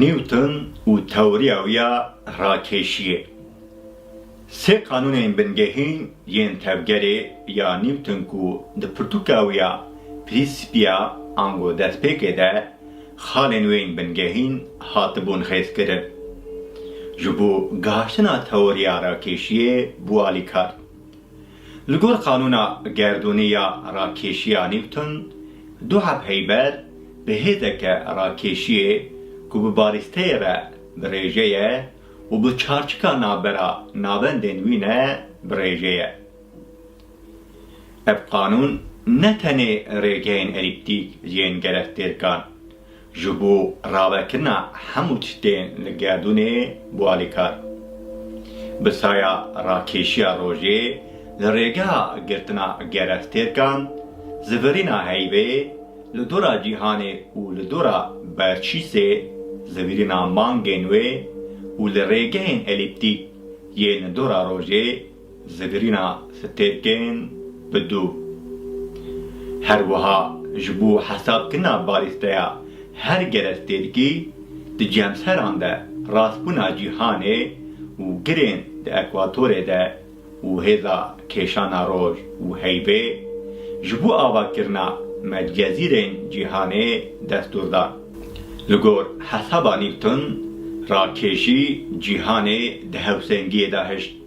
Newton û tewriya wî ya rakêşiyê. Sê qanûnên bingehîn yên tevgerê ya Newton ku di pirtûka wî ya Prînsîpia ango destpêkê de xalên wê yên bingehîn hatibûn xêzkirin, ji bo gaştina tewriya rakêşiyê bû alîkar. Li gor qanûna gerdûnê ya rakêşiya Newton, du heb heyber bi hêzeke rakêşiyê ku bi barîsteyê re bi rêje ye û bi çarçika navbera navendên wî ne bi rêje ye. Ev qanûn ne tenê rêgehên elîptîk yên gerektêrkan, Ji bo ravekirina hemû tiştên li gerdûnê bû alîkar. Bi saya rakêşiya rojê li rêgeha girtina gereftêrkan, zivirîna heyvê li dora cîhanê û li dora berçîsê, zivirîna mangên wê û li rêgehên elîptîk yên li dora rojê, Zigirîna stêrkên bi du. Her wiha ji bo hesabkirina balîsteya her gerestêrkî di cemseran de rastbûna cîhanê û girên di ekwatorê de û hêza kêşana roj û heyvê ji bo avakirina medcezîrên cîhanê destûr dan. Li gor hesaba Newton, rakêşî cîhanê di hewsengiyê de hişt.